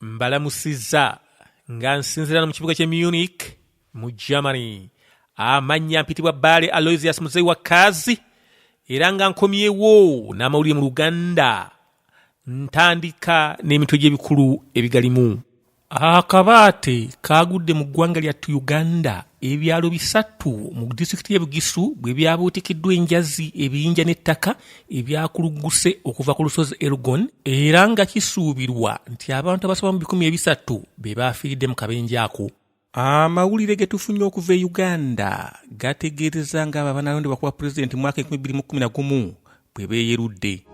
mbalamusizza nga nsinzirano mu kibuga kye munich mu germany amannya mpitibwa baale aloisius muzeyi wa kaazi era nga nkomyewo n'amawulire mu luganda ntandika n'emitwe gy'ebikulu ebigalimu akabaate kaagudde mu ggwanga lyattu uganda ebyalo bisatu mu disitulikiti y'e bugisu bwe byabuutikiddwa enjazi ebiyinja n'ettaka ebyakulugguse okuva ku lusozi elgon era nga kisuubirwa nti abantu abasoba mu bikumi ebisatu be baafiiridde mu kabenje ako amawulire ge tufunye okuva e uganda gategeereza nga abo abanalondebwa kuba pulezidenti mwaka 2011 bwe beeyerudde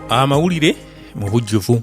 amawulire mu bujjuvu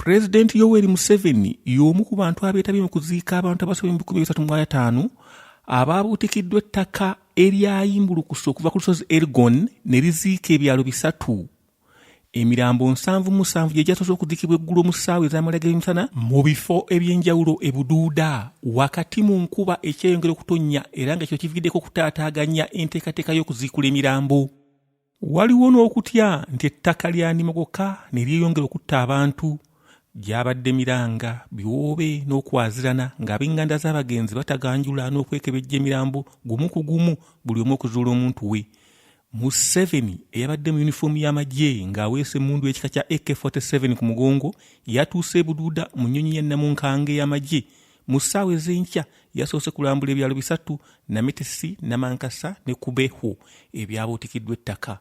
pulezidenti yoweri museveni y'omu ku bantu abeetabye mu kuziika abantu abasoba mu bikumi bisatu mu ataano abaabuutikiddwa ettaka eryayimbulukusa okuva ku lusozi ergon ne liziika ebyalo bisatu emirambo nsanvu musanvu gye gyasoose okudikibwa eggulo mu ssaawa ez'amalaga emisana mu bifo eby'enjawulo e buduuda wakati mu nkuba ekyeyongera okutonnya era nga kino kiviiriddeko okutaataaganya enteekateeka y'okuziikula emirambo waliwo n'okutya nti ettaka lyanimogoka ne lyeyongera okutta abantu gyabadde miranga biwoobe n'okwazirana ng'ab'enganda z'abagenzi bataganjula n'okwekebejja emirambo gumu ku gumu buli omu okuzuula omuntu we museveni eyabadde mu yunifoomu y'amagye ng'aweesa emmundu ekika kya ak-47 ku mugongo yatuuse ebuduuda mu nnyonyi ya namunkange y'amagye mu ssaawa ez'enkya yasoose kulambula ebyalo bisatu namitesi namankasa ne kubehu ebyabuutikiddwa ettaka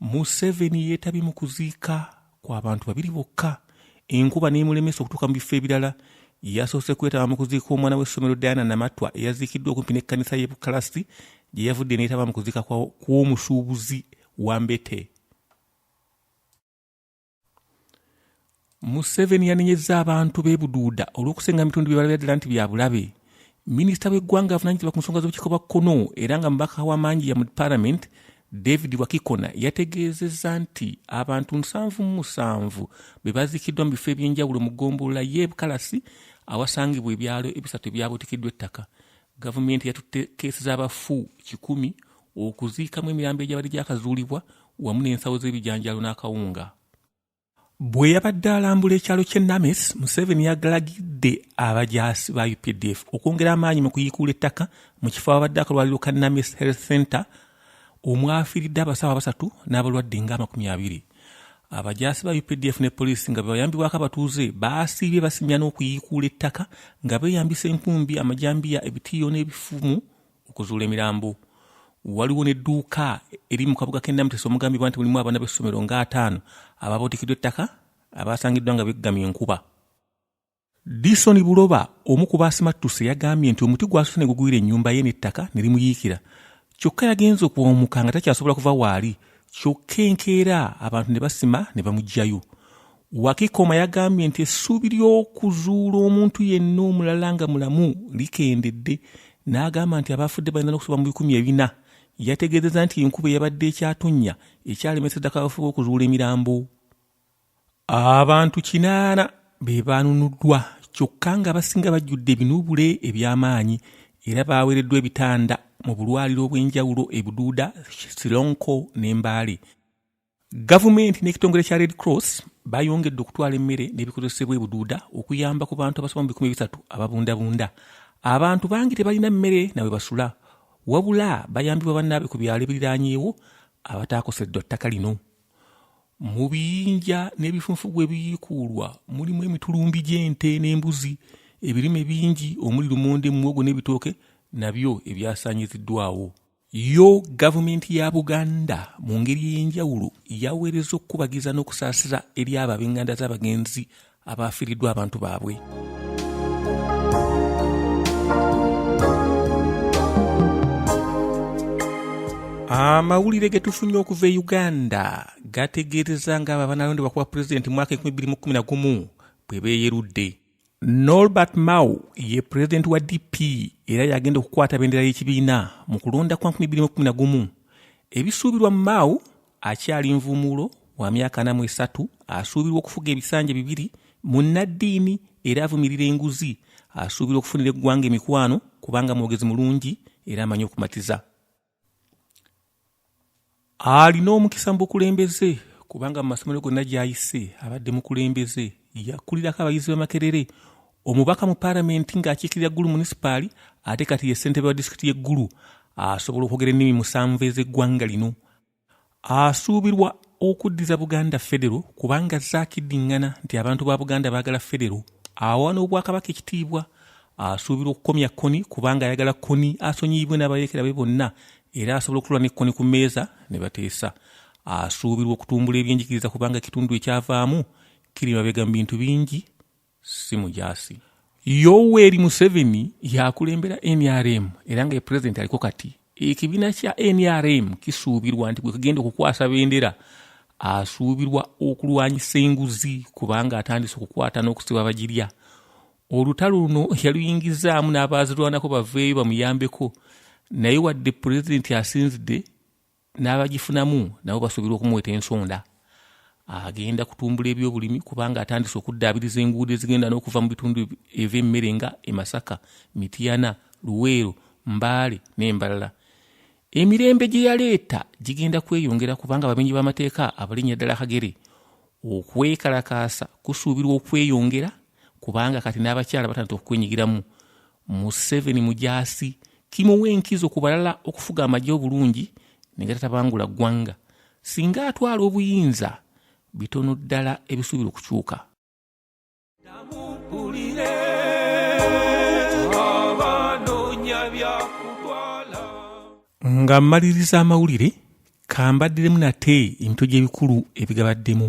museveni yeetabye mu kuziika kw'abantu babiri bokka enkuba n'emulemesa okutuuka mu bifo ebirala yasoose kwetaba mu kuziika omwana w'essomero diana namatwa eyaziikiddwa okumpi n'ekkanisa y'e bukalasi gye yavudde neetaba mu kuziika kw'omusuubuzi wa mbete museveni yanenyezza abantu b'e buduuda olw'okusenga mitundu bye balabira ddala nti bya bulabe minisita w'eggwanga avunanyizibwa ku nsonga z'obukiiko bwa kkono era nga mubaka wa mangi ya mu palamenti david wakikona yategeezezza nti abantu nsanvu mu musanvu be baziikiddwa mu bifo eby'enjawulo mu ggombolola y'e bukalasi awasangibwa ebyalo ebisatu ebyabuutikiddwa ettaka gavumenti yatutte keesi z'abafu kikumi okuziikamu emirambo egyabadde gyakazuulibwa wamu n'ensawo z'ebijanjaalo n'akawunga bwe yabadde alambula ekyalo ky'e names museveni yagalagidde abajaasi ba updf okwongera amaanyi mu kuyiikuula ettaka mu kifo ababadde akalwaliro ka names health center omwafiiridde abasawo abasatu n'abalwadde nga amakumi abiri abajaasi ba updf ne poliisi nga bebayambibwako abatuuze baasiibye basimya n'okuyiikuula ettaka nga beeyambisa enkumbi amajambiya ebitiiyo n'ebifumu okuzuula emirambo waliwo n'edduuka eri mu kabuga k'e namutesa omugambibwa nti mulimu abaana b'essomero nga ataano abaabotikiddwa ettaka abaasangiddwa nga beggamye enkuba disoni buloba omu ku baasimattuse yagambye nti omuti gwasuse ne gugwira ennyumba ye n'ettaka ne limuyiikira kyokka yagenze okuwumuka nga takyasobola kuva waali kyokka enkeera abantu ne basima ne bamugjayo Wakikoma yagambye nti essuubi ly'okuzuula omuntu yenna omulala nga mulamu likendedde n'agamba nti abaafudde balina okusoba mu bikumi ebina. Yategeezezza nti enkuba eyabadde ekyatonnya ekyalemesa ddako abafuba okuzuula emirambo. Abantu kinaana be baanunuddwa kyokka ng'abasinga bajjudde ebinuubule eby'amaanyi era baaweereddwa ebitanda mu bulwaliro obw'enjawulo e Buduuda, Sironko ne Mbale. Gavumenti n'ekitongole kya Red Cross bayongedde okutwala emmere n'ebikozesebwa ebuduuda okuyamba ku bantu abasoba mu bikumi bisatu ababundabunda. Abantu bangi tebalina mmere nawe basula, wabula bayambibwa bannaabwe ku byalo ebiriraanyeewo abataakoseddwa ttaka lino. Mu biyinja n'ebifunfugu ebiyiikuulwa mulimu emitulumbi gy'ente n'embuzi, ebirime bingi omuli lumonde, muwogo n'ebitooke nabyo ebyasaanyiziddwawo. Yo gavumenti ya Buganda mu ngeri ey'enjawulo yaweereza okukubagiza n'okusaasira eri abo ab'enganda z'abagenzi abaafiiriddwa abantu baabwe. amawulire ge tufunye okuva e uganda gategeereza ng'abo abanalondebwa kuba pulezidenti mwaka 2011 bwe beeyerudde Norbert Mao ye pulezidenti wa DP era yagenda okukwata bendera y'ekibiina mu kulonda kwa 2011. Ebisuubirwa Mao akyali nvumuulo wa myaka anamu esatu asuubirwa okufuga ebisanja bibiri munnaddiini era avumirira enguzi asuubirwa okufunira eggwanga emikwano kubanga mwogezi mulungi era amanyi okumatiza. alina omukisa mu bukulembeze kubanga mu masomero gonna gy'ayise abadde mukulembeze yakulirako abayizi b'amakerere omubaka mu palamenti ng'akiikirira ggulu munisipaali ate kati ye ssentebe wa disitulikiti y'eggulu asobola okwogera ennimi musanvu ez'eggwanga lino asuubirwa okuddiza buganda federo kubanga azze akiddiŋŋana nti abantu ba buganda baagala federo awa n'obwakabaka ekitiibwa asuubirwa okukomya koni kubanga ayagala koni asonyiyibwe n'abayeekera be bonna era asobola okutula ne koni ku mmeeza ne bateesa asuubirwa okutumbula ebyenjigiriza kubanga ekitundu ekyavaamu kiri mabega mu bintu bingi si mujaasi yoweri museveni yakulembera nrm era nga pulezidenti aliko kati ekibiina kya nrm kisuubirwa nti bwekigenda okukwasa bendera asuubirwa okulwanyisa enguzi kubanga atandise okukwata n'okusiba abagirya olutalo luno yaluyingizaamu n'abaazirwanako baveeyo bamuyambeko naye wadde pulezidenti asinzidde n'abagifunamu nabo basuubirwa okumuweta ensonda agenda kutumbula ebyobulimi kubanga atandise okuddaabiriza enguudo ezigenda n'okuva mu bitundu eby'emmere nga emasaka mitiyana luweero mbaale n'embalala emirembe gye yaleeta gigenda kweyongera kubanga abamenyi b'amateeka abalinnya ddala kagere okwekalakaasa kusuubirwa okweyongera kubanga kati n'abakyala batandika okukwenyigiramu museveni mujaasi kimuwa enkizo ku balala okufuga amagye obulungi negatatabangula ggwanga singa atwala obuyinza bitono ddala ebisuubira okukyuka nga mmaliriza amawulire kambaddiremu nate emitwe gy'ebikulu ebigabaddemu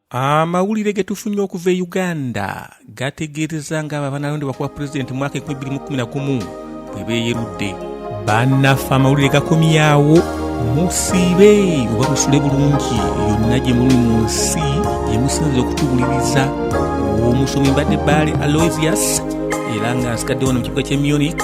amawulire ge tufunye okuva e uganda gategeereza ng'abo abanalondebwa kuba pulezidenti mwaka 2011 bwe beeyerudde bannaffe amawulire gakomyawo musiibe oba musule bulungi yonna gye muli mu nsi gye musinza okutuwuliriza omusomi mbadde baale aloysius era nga nsikadde wano mu kibuga ky'e munich